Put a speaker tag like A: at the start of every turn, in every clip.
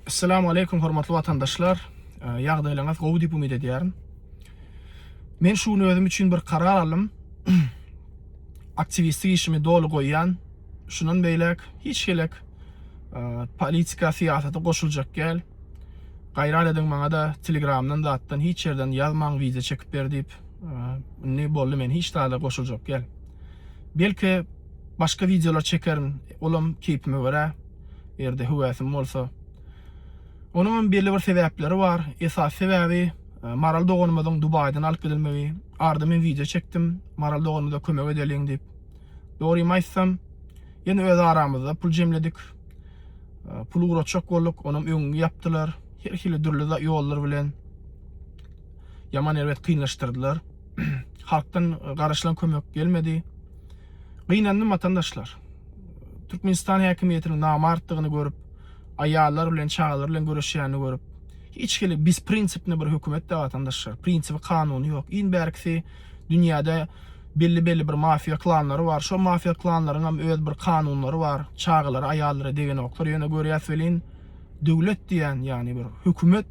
A: Assalamu aleykum hormatly watandaşlar. Ýagdaýlaryňyz gowy diýip umyt edýärin. Men şu gün özüm üçin bir karar aldym. Aktiwistlik işimi doly goýýan. Şundan beýläk hiç gelek politika syýasaty goşuljak däl. Gaýrat ediň maňa da Telegramdan zatdan hiç ýerden ýazmaň wideo çekip ber diýip. Indi boldy men hiç zada goşuljak däl. Belki Başga wideolar çekerin, olam keýpime görä, eger-de höwäsim bolsa. Onuňam belli bir sebäpleri bar. Esasy sebäbi Maral doganymyzyň Dubaýdan alyp gidilmegi. Arda men wideo çekdim, Maral doganymyza kömek edeliň diýip. Dogrymy aýtsam, ýene öz aramyzda pul jemledik. Pul ugratjak bolduk, onam öňüňi ýapdylar. Her hili dürli ýollar bilen ýaman erbet kynlaşdyrdylar. Halkdan garaşylan kömek gelmedi. Gynandym watandaşlar. Türkmenistan häkimiýetiniň namartdygyny görüp, aýallar bilen, çagalar bilen göreşýänini görüp, hiç hili bizprinsipni bir hökümet-dä watandaşlar. Prinsibi, kanuny ýok. Iň bärkisi dünýäde belli-belli bir mafiýa klanlary bar. Şo mafiýa klanlaryňam öz bir kanunlary bar. Çagalara, aýallara degenoklar. Ýöne görýäs welin, döwlet diýýän, ýagny bir hökümet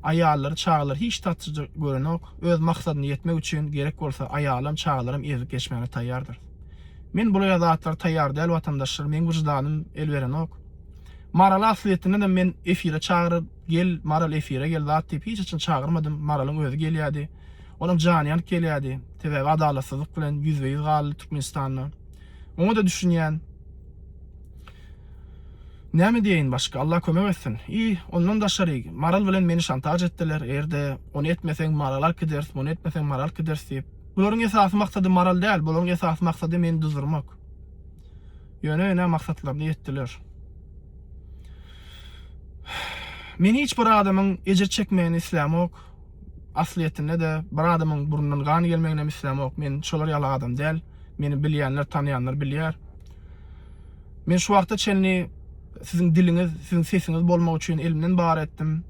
A: Aýallary, çagalary hiç tatyja görenok. Öz maksadyna ýetmek üçin gerek bolsa aýalam, çagalaram ezip geçmäne taýýardyr. Men bulaýa zatlara taýýar däl watandaşlar, meň wyždanym el berenok. Maraly aslyýetindenem men efire çagyryp, gel Maral efire gel zat diýip hiç haçan çagyrmadym, Maralyň özi gelýädi. Olam jany ýanyp gelýädi. Sebäbi adalatsyzlyk bilen ýüzbe-ýüz galdy Türkmenistanda. Oňa-da düşünýän. Näme diýeýin başga, Allah kömek etsin. I, ondan daşary, Maral bilen meni şantaž etdiler, eger-de, ony etmeseň, Maraly alyp gideris, muny etmeseň, Maraly alyp gideris diýip. Bularyň esasy maksady Maral däl, bularyň esasy maksady meni duzdurmak. Ýöne, ine, maksatlaryna ýetdiler. Men hiç bir adamyň ejir çekmegini islämok, aslyýetinde-de, bir adamyň burnundan gan gelmeginem islämok. Men şolar ýaly adam däl. Meni bilýänler, tanaýanlar bilýär. Men şu wagta çenli siziň diliňiz, siziň sesiňiz bolmak üçin elimden bary etdim.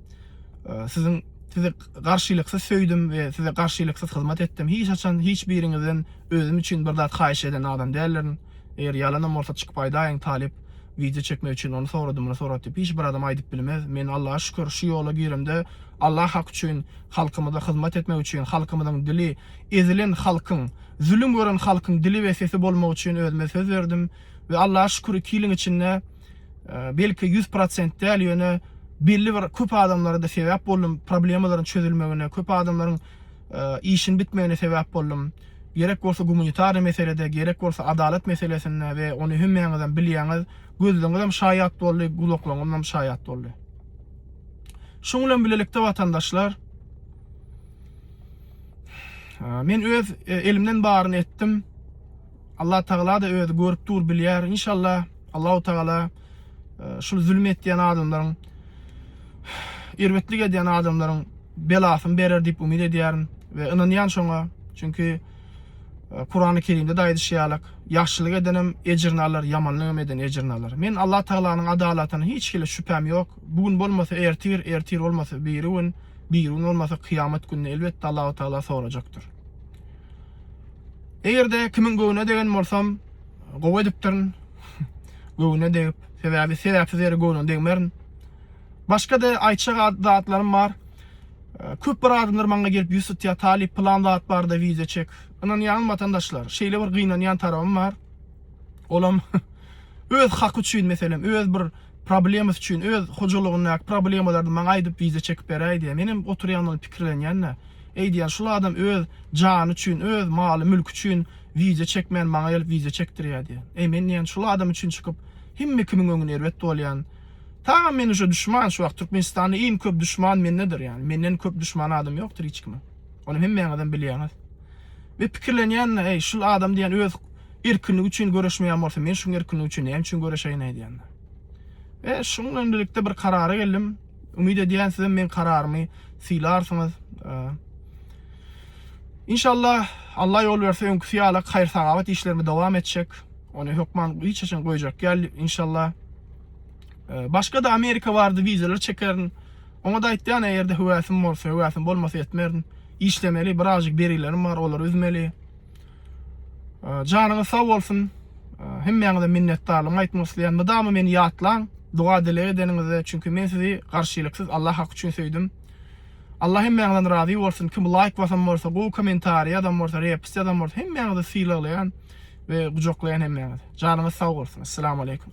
A: Siziň sizi garşylyksyz söýdüm we size garşylyksyz hyzmat etdim. Hiç haçan hiç biriňizden özüm üçin bir zat haýyş eden adam däldirin. Eger ýalanam bolsa çykyp aýdaýyň, talyp wideo çekmek üçin ony sorady, muny sorady diýip hiç bir adam aýdyp bilmez. Men Allaha şükür şu ýola giremde Allah haky üçin, halkymyza hyzmat etmek üçin, halkymyzyň dili, ezilen halkyň, zülüm gören halkyň dili we sesi bolmak üçin özüme söz berdim we Allaha şükür iki ýylyň içinde belki ýüz prosent däl ýöne belli bir köp adamlara da sebäp boldum problemalaryň çözülmegine köp adamlaryň işin bitmegine sebäp boldum gerek bolsa gumanitarny meselede gerek bolsa adalat meselesinde we ony hemmäňizem bilýäňiz gözleňizem şaýat boldy gulaklaňyzam şaýat boldy şuň bilen bilelikde watandaşlar Men öz e, elimden baryny etdim. Allah Taala da özi görüp dur, bilýär. İnşallah Allahu Taala e, şu zulüm etýän adamlaryň erbetlik edýän adamlaryň belasyny berer diýip umyt edýärin we ynanýan şoňa. Çünki e, Kurany Kerimde de aýdyşýarlyk, ýagşylyk edenem ejrini alar, ýamanlyk eden ejrini alar. Men Allah Taalanyň adalatyna hiç hili şübhäm ýok. Bu gün bolmasa ertir, ertir bolmasa biri gün Bir gün bolmasa kyýamat günde elbetde Allahu Taala sorajakdyr. Eger-de kimiň göwnüne degen bolsam, gowy edipdirin. göwnüne degip, sebäbi sebäpsiz ýere göwnüne degmerin. Başga-da aýtjak zatlarym bar. Köp bir adamlar maňa gelip ýüz tutýar, talyp plan zat barda wideo çek. Ynanýaňyzmy watandaşlar? Şeýle bir gynanýan tarabym bar. Olam öz haky üçin meselem, öz bir problemasy üçin, öz hojalygyndaky problemalaryny maňa aýdyp wideo çekip beräý diýýär. Menem oturýan ony pikirlenýän-de. Eý diýýän, şul adam öz jany üçin, öz maly, mülki üçin wideo çekmän maňa gelip wideo çekdirýär diýýän. Eý men diýýän, şul adam üçin çykyp hemme kimiň öňüne erbet bolýan. Tagam men uje duşman şu wagt Türkmenistanda iň köp duşman mendedir ýani. Menden köp duşman adam ýokdur hiç kimiň. Ony hemmäňizem bilýäňiz. Ve pikirlenýän-de, eý şul adam diýýän öz Erkinlik üçin göreşmeýän bolsa, men şuň erkinlik üçin näme üçin göreşeýin aýdýanda. We şuň bilen birlikde bir karara geldim. Umyt edýän sizem meň kararymy sylarsyňyz. Inşallah Allah ýol berse öňküsi ýala haýyr sagabat işlerimi dowam etjek. Ony hökman hiç haçan goýjak ýal inşallah. Başga da Amerika bardy wideolar çekerin. Oňa da aýtýan eger de höwäsim bolsa, höwäsim bolmasa etmerin. Işlemeli, birazjyk berilerim bar, olary üzmeli. Janyňyz sag bolsun. Hemmäňize minnetdarlygymy aýtmak isleýän. Mydama meni ýatlaň, doga-dileg edeniňizde, çünki men sizi garşylyksyz Allah haky üçin söýdüm. Allah hemmäňizden razy bolsun. Kim laýk basan bolsa, gowy kommentariý ýazan bolsa, repst ýazan bolsa, hemmäňizi sylaglaýan we gujaklaýan hemmäňizi. Janyňyz sag bolsun. Assalamu aleýkum.